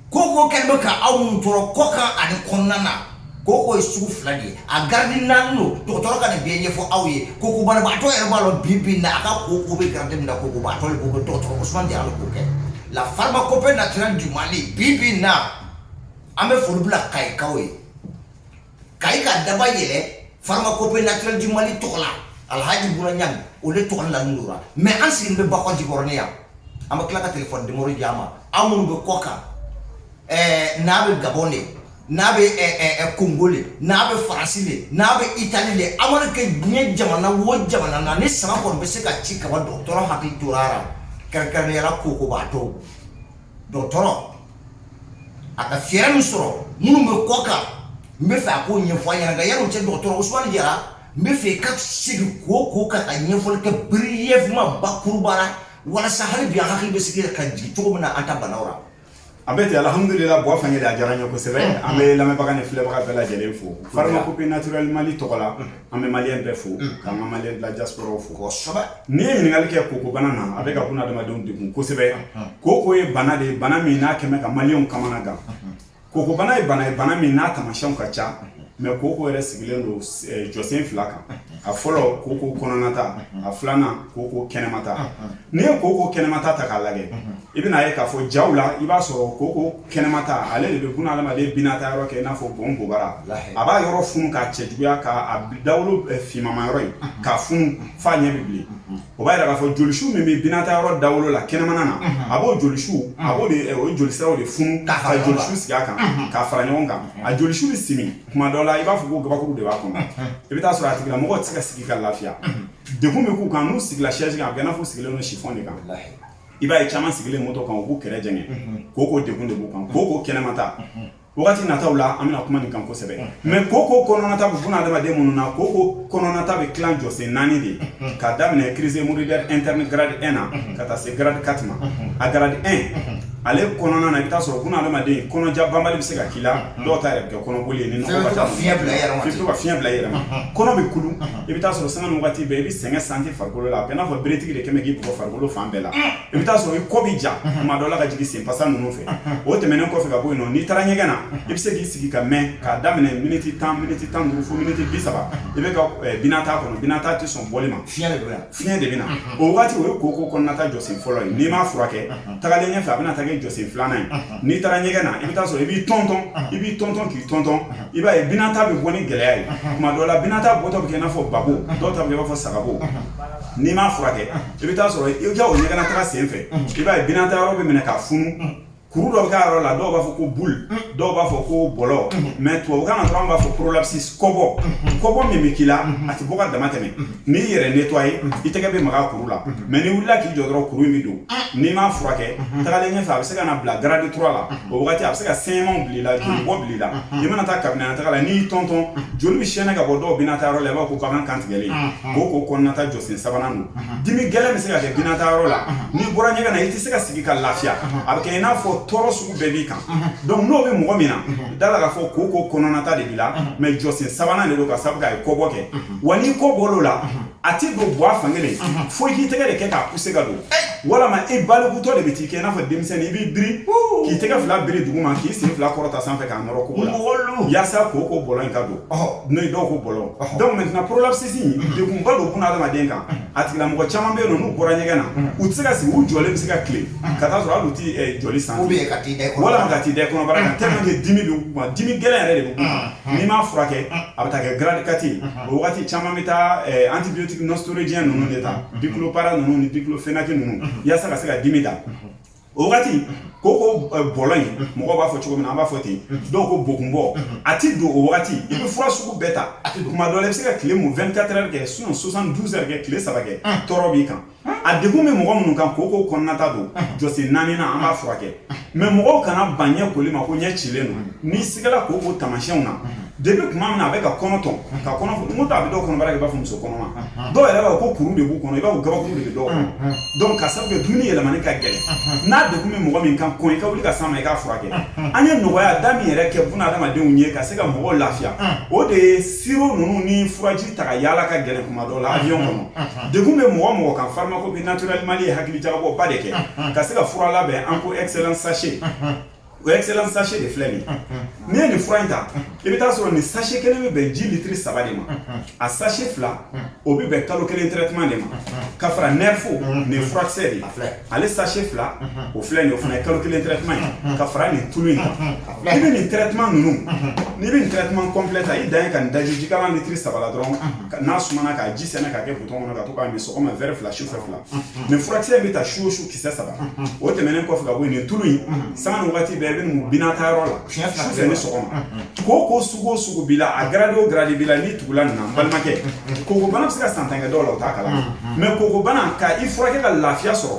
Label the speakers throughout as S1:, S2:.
S1: koko kɛ bɛ ka aw minnu tɔɔrɔ kɔ kan ani kɔnɔna na koko ye sugu fila de ye a garidi naani don dɔgɔtɔrɔ ka nin bɛɛ ɲɛfɔ aw ye koko banabaatɔ yɛrɛ b'a dɔn bi bi na a ka koko bɛ garidi min na kokobaatɔ koko dɔgɔtɔrɔ Ousmane Diarra k'o kɛ la pharmacopée naturelle du Mali bi bi na an bɛ foli bila Kayikaw ye Kayi ka daba yɛlɛ pharmacopée naturelle du Mali tɔgɔ la alhaji Buna Ɲang o de tɔgɔ la nin dora mais an sigilen bɛ bakɔ jikɔrɔni yan an bɛ tila ka telefɔni nimɔrɔ di a ma a minnu bɛ kɔ kan eh, n'a bɛ gabɔn de n'a bɛ eh, eh, kongo le n'a bɛ faransi le n'a bɛ itali le a mana kɛ diɲɛ jamana wo jamana na ni sama kɔni bɛ se ka ci kaba dɔgɔtɔrɔ hakili tora a la kɛrɛnkɛrɛnnenya la kokobaatɔw dɔgɔtɔrɔ a ka fɛɛrɛ min sɔrɔ minnu bɛ kɔkan n bɛ fɛ a k'o ɲɛfɔ an ɲɛna nka yanni o cɛ dɔgɔtɔrɔ Usumani Jara n bɛ fɛ i ka segin koko kan ka ɲɛfɔli kɛ brièvement bakuruba la walasa hali bi an hakili bɛ sigi ka jigin cogo min na an ta banaw la. A bɛ
S2: ten alhamudulila Buwa Fangɛli a diyara n ye kosɛbɛ an bɛ lamɛnbaga ni filɛbaga bɛɛ lajɛlen fo pharmacopée naturelle Mali tɔgɔ la. an bɛ maliyɛn bɛɛ fo mm. k'an ka maliyɛn de la diaspora fo kosɛbɛ n'i ye ɲininkali kɛ koko bana na a bɛ ka buna adamadenw degun kosɛbɛ mm-hmm. koko ye bana de ye bana min n'a kɛmɛ ka maliyɛnw kamana gan mm-hmm. koko bana ye bana ye bana min n'a taamasiyɛnw ka ca mais mm-hmm. koko yɛrɛ sigilen don eh, jɔsen fila kan a fɔlɔ koko kɔnɔnata a filanan koko kɛnɛmata n'i ye koko kɛnɛmata ta k'a lajɛ I bɛna ye k'a fɔ jaw la i b'a sɔrɔ koko kɛnɛmata ale de bɛ buna adamaden binata yɔrɔ kɛ i n'a fɔ bon bobara a b'a yɔrɔ funu k'a cɛjuguya k'a dawolo finman yɔrɔ in k'a funu f'a ɲɛ bɛ bilen o b'a jira k'a fɔ jolisiw min bɛ binata yɔrɔ dawolo la kɛnɛmana na a b'o jolisiw a o jolisiraw de funu ka jolisu sigi a kan ka fara ɲɔgɔn kan a jolisu bɛ simi kuma dɔ la i b'a fɔ ko gabakuru de b'a kɔnɔ i bɛ taa sɔrɔ a tigilamɔgɔ tɛ se ka sigi ka lafiya degun bɛ k'u kan n'u sigila sɛsi kan a bɛ i n'a fɔ sigilen don si de kan i b'a ye caman sigilen motɔ kan u b'u kɛrɛ jɛngɛ koko degun de b'u kan koko kɛnɛmata wagati nataw la an bɛna kuma nin kan kosɛbɛ mais koko kɔnɔnata bɛ buna adamaden minnu na koko kɔnɔnata bɛ tila jɔsen naani de k'a daminɛ crise hémorroïdaire interne grade un na ka taa se grade quatre ma a grade un ale kɔnɔna na i bɛ taa sɔrɔ buna adamaden kɔnɔja banbali bɛ se ka k'i la dɔw ta yɛrɛ bɛ kɛ kɔnɔboli ye ni
S1: ka fiɲɛ bila i yɛrɛ
S2: ma kɔnɔ bɛ kulu i bɛ taa sɔrɔ sanga ni waati bɛɛ i bɛ sɛgɛn santi farikolo la a bɛ i n'a fɔ beretigi de kɛmɛ k'i bugɔ farikolo fan bɛɛ la i bɛ taa sɔrɔ i kɔ bɛ ja tuma dɔ la ka jigin senfasa ninnu fɛ o tɛmɛnen kɔfɛ ka bɔ yen n'i taara ɲɛgɛn na i bɛ se k'i sigi ka mɛn k'a daminɛ miniti tan miniti tan ni duuru fo miniti bi saba i bɛ ka binata kɔnɔ binata tɛ sɔn bɔli ma fi Fiɲɛ de bɛ na o wagati o ye koko kɔnɔnata jɔsen fɔlɔ ye n'i m'a furakɛ tagalen ɲɛfɛ a bɛna taa kɛ jɔsen filanan ye n'i taara ɲɛgɛn na i bɛ taa sɔrɔ i b'i tɔntɔn i b'i tɔntɔn k'i tɔntɔn i b'a ye binata bɛ bɔ ni gɛlɛya ye tuma dɔ la binata bɔtɔ bɛ kɛ i n'a fɔ babo dɔw ta i b'a fɔ sagabo n'i m'a furakɛ i bɛ taa sɔrɔ i ka o ɲɛgɛnnataga senfɛ i b'a ye binata yɔrɔ bɛ minɛ ka funu kuru dɔ bɛ k'a yɔrɔ la dɔw b'a fɔ ko boule dɔw b'a fɔ ko bɔlɔ mais tubabukan na dɔrɔn b'a fɔ prolapsus kɔbɔ kɔbɔ min bɛ k'i la a tɛ bɔ ka dama tɛmɛ n'i yɛrɛ nettoyé i tɛgɛ bɛ maga kuru la mais n'i wulila k'i jɔ dɔrɔn kuru in bɛ don n'i m'a furakɛ tagalen ɲɛfɛ a bɛ se ka na bila grade trois la o wagati a bɛ se ka saignement bila i la joli bɔ bila i la i mana taa kabinɛ taga la n'i y'i tɔntɔn joli bɛ sɛnɛ ka bɔ dɔw binata yɔrɔ la i b'a fɔ ko bagan kantigɛlen koko kɔnɔnata jɔsen sabanan don dimi gɛlɛn bɛ se ka kɛ binata yɔrɔ la n'i bɔra ɲɛgɛn na i tɛ se ka sigi ka lafiya a bɛ kɛ i n'a fɔ tɔɔrɔ sugu bɛɛ b'i kan donc n'o bɛ mɔgɔ min na da la k'a fɔ koko kɔnɔnata de b'i la mais jɔsen sabanan de don ka sabu k'a ye kɔbɔ kɛ wa n'i kɔ bɔr'o la a tɛ don bɔ a fan kelen fo i k'i tɛgɛ de kɛ k'a poussé ka don walama i balikutɔ de bɛ t'i kɛ i n'a fɔ denmisɛnnin i b'i biri k'i tɛgɛ fila biri duguma k'i sen fila kɔrɔta sanfɛ k'a nɔrɔ kogo la yaasa koko bɔlɔ in ka don n'o ye dɔw ko bɔlɔ donc maintenant prolapsus in degunba don buna adamaden kan a tigilamɔgɔ caman bɛ yen n'u bɔra ɲɛgɛn na u tɛ se ka sigi u jɔlen bɛ se ka tile ka taa sɔrɔ hali u tɛ jɔ sanfɛ walama ka taa da kɔnɔbara kan tellement que dimi bɛ k'u kan dimi gɛlɛn yɛrɛ de bɛ k'u kan n'i m'a furakɛ a bɛ taa kɛ grade quatre ye o wagati caman bɛ taa antibiotique non stéroïdien ninnu de ta diclopara ninnu ni diclofenac ninnu yaasa ka se ka dimi da o wagati koko bɔlɔ in mɔgɔw b'a fɔ cogo min na an b'a fɔ ten dɔw ko bokunbɔ a ti don o wagati i bɛ fura sugu bɛɛ ta kuma dɔ la i bɛ se ka tile mun 24 heures kɛ sinon 72 heures kɛ tile saba kɛ tɔɔrɔ b'i kan a degun bɛ mɔgɔ minnu kan koko kɔnɔnata don jɔsen naaninan an b'a furakɛ mais mɔgɔw kana ban ɲɛ koli ma ko ɲɛ cilen don n'i sigala koko taamasiyɛnw na Depuis tuma min na a bɛ ka kɔnɔ tɔn ka kɔnɔ funu a bɛ dɔw kɔnɔbara kɛ i b'a fɔ muso kɔnɔma dɔw yɛrɛ b'a fɔ ko kuru de b'u kɔnɔ i b'a fɔ gabakuru de bɛ dɔw kɔnɔ donc ka sabu kɛ dumuni yɛlɛmani ka gɛlɛn n'a degun bɛ mɔgɔ min kan kɔn i ka wuli ka s'a ma i k'a furakɛ an ye nɔgɔya da min yɛrɛ kɛ buna adamadenw ye ka se ka mɔgɔw lafiya o de ye sirop ninnu ni furaji ta ka yaala ka gɛlɛn kuma dɔ la avion kɔnɔ degun bɛ mɔgɔ min kan pharmacopée naturelle Mali ye hakili jagabɔba de kɛ ka se ka fura labɛn an ko excellent sachet O excellent sachet de filɛ nin n'i ye nin fura in ta i bɛ taa sɔrɔ nin sachet kelen bɛ bɛn ji litiri saba de ma a sachet fila o bɛ bɛn kalo kelen traitement de ma ka fara nerfo nin furakisɛ de filɛ ale sachet fila o filɛ nin o fana ye kalo kelen traitement ye ka fara nin tulu in kan i bɛ nin traitement ninnu n'i bɛ traitement complet ta i dan ye ka nin daji ji litiri saba la dɔrɔn n'a sumana k'a ji sɛnɛ k'a kɛ butɔn kɔnɔ ka to k'a min sɔgɔma verre fila su fila nin furakisɛ bɛ ta su su kisɛ saba o tɛmɛnen kɔfɛ ka bɔ yen nin tulu in sanga ni wagati bɛɛ i bɛ nin mu binata yɔrɔ la sufɛ ni sɔgɔma koko sugu o sugu b'i la a garadi o garadi b'i la n'i tugula nin na n balimakɛ kokobana bɛ se ka san tan kɛ dɔw la o t'a kalama mɛ kokobana ka i furakɛ ka lafiya sɔrɔ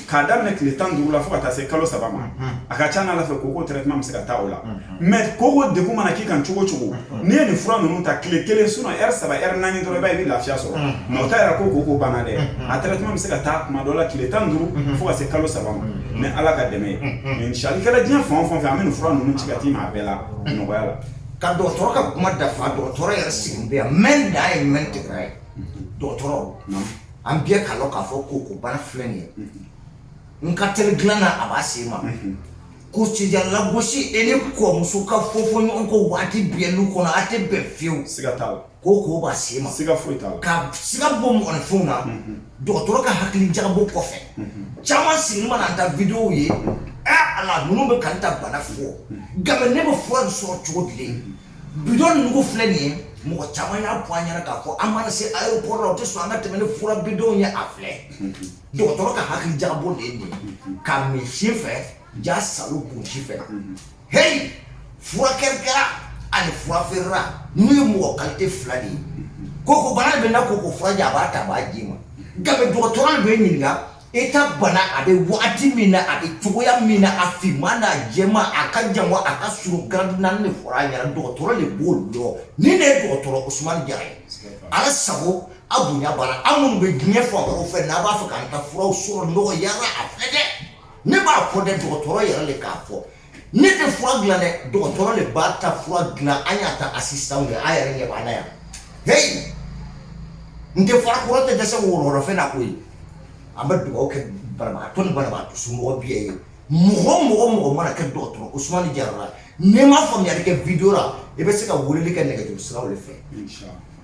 S2: k'a daminɛ tile tan ni duuru la fo ka taa se kalo saba ma a ka ca n'ala fɛ koko traitement bɛ se ka taa o la mɛ koko degun mana k'i kan cogo o cogo n'i ye nin fura ninnu ta tile kelen sinon heure saba heure naani dɔrɔn i bɛ lafiya sɔrɔ mɛ o t'a yira ko koko banna dɛ a traitement bɛ se ka taa tuma dɔ la tile tan ni duuru fo ka se kalo saba ma ni ala ka dɛmɛ ye inshallah i kɛra diɲɛ fan o fan fɛ an bɛ nin fura ninnu ci ka t'i ma a bɛɛ la nɔgɔya la ka dɔgɔtɔrɔ
S1: ka kuma dafa dɔgɔtɔrɔ yɛrɛ sigilen bɛ yan mɛn dan ye mɛn tigi da ye dɔgɔtɔrɔ an bɛɛ k'a lɔn k'a fɔ koko bana filɛ nin ye n ka teli dilan na a b'a se ma Ko cɛya lagosi e ni kɔmuso ka fɔ ɲɔgɔn kɔ waati bɛɛ lu kɔnɔ a tɛ bɛn fiyewu koko
S2: b'a se ma siga
S1: foyi t'a la ka
S2: siga bɔ
S1: mɔgɔninfin na dɔgɔtɔrɔ ka hakili jagabɔ kɔfɛ caman sigilen mana an ta videow ye ala ninnu bɛ ka n ta bana fɔ nka ne bɛ fura sɔrɔ cogo di bidɔn ninnu filɛ nin ye mɔgɔ caman y'a fɔ an ɲɛna k'a fɔ an mana se aéroport la o tɛ sɔn an ka tɛmɛ ni fura bidɔnw ye a filɛ dɔgɔtɔrɔ ka hakili jagabɔ de ye nin ye ka min si fɛ ja salo kun si fɛ heyi furakɛlikɛla ani fura feerela ninnu ye mɔgɔ kalite fila de ye koko bana bɛ n na koko furaji a b'a ta a b'a d'i ma nka dɔgɔtɔrɔ de bɛ ɲininka i ta bana a bɛ wagati min na a bɛ cogoya min na a finman n'a jɛma a ka jan wa a ka surun garadi naani de fɔra a ɲɛna dɔgɔtɔrɔ de b'o dɔn nin de ye dɔgɔtɔrɔ Usumani Jara ye Ala sago Aw bonya aw minnu bɛ diɲɛ fan wɛrɛw fɛ n'a b'a fɛ k'an ka furaw sɔrɔ nɔgɔya la a filɛ dɛ ne m'a fɔ dɛ dɔgɔtɔrɔ yɛrɛ de k'a fɔ ne tɛ fura dila dɛ dɔgɔtɔrɔ de b'a ta fura dilan an y'a ta assistant ye an yɛrɛ ɲɛ b'a la yan heyi n tɛ fara kɔrɔ tɛ dɛsɛ wɔɔrɔfɛn na koyi an bɛ dugawu kɛ banabagatɔ ni banabagatɔ somɔgɔ bɛɛ ye mɔgɔ o mɔgɔ mago mana kɛ dɔgɔtɔrɔ Usumani Jara la n'i ma faamuya kɛ video rɔ i bɛ se ka weleli kɛ nɛgɛjuru sira de fɛ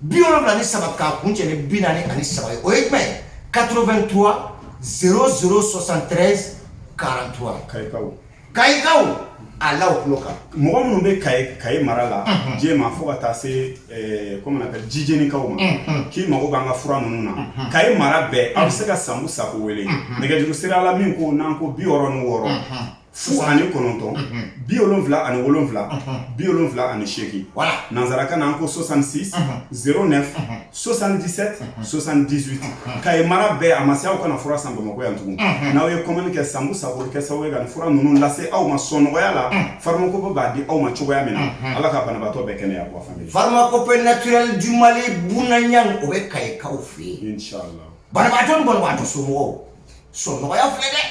S1: bi wolonwula ni saba k'a kuncɛ ni bi naani ani saba ye o ye jumɛn ye 83 00 73 43 kayikaw kayikaw a la o tulo kan mɔgɔ minnu bɛ
S2: kayi mara la Jɛma fo ka taa se comment on appelle jijɛnikaw ma k'i mago b'an ka fura ninnu na kayi mara bɛɛ aw bɛ se ka sanbu sako wele nɛgɛjuru sira la min ko n'an ko bi wɔɔrɔ ni wɔɔrɔ Fu ani kɔnɔntɔn bi wolonwula ani wolonwula bi wolonwula ani seegin nansarakan na an ko soixante-six zéro neuf soixante-dix-sept soixante-dix-huit Kayi mara bɛɛ a ma se aw kana fura san bamakɔ yan tugun n'aw ye commande kɛ Sambu Sako kɛ sababu ye ka fura ninnu lase aw ma sɔnɔgɔya la Pharmacopée b'a di aw ma cogoya min na ala ka banabaatɔ bɛɛ kɛnɛya Pharmacopée
S1: naturelle du Mali bya o bɛ Kayikaw fɛ yen banabaatɔ
S2: ni banabaatɔ
S1: somɔgɔw sɔnɔgɔya filɛ dɛ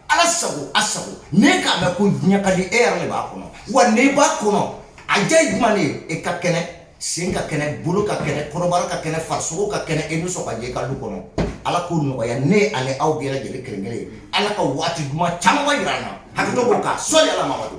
S1: ala sago a sago ne k'a mɛn ko diɲɛ ka di e yɛrɛ de b'a kɔnɔ wa n'i b'a kɔnɔ a diya ye jumɛn de ye e ka kɛnɛ sen ka kɛnɛ bolo ka kɛnɛ kɔnɔbara ka kɛnɛ farisogo ka kɛnɛ e bɛ sɔn ka jɛ i ka du kɔnɔ ala k'o nɔgɔya ne ani aw bɛɛ lajɛlen kelen kelen ye ala ka waati duman caman jira an na hakɛto b'o kan sɔli ala Mamadu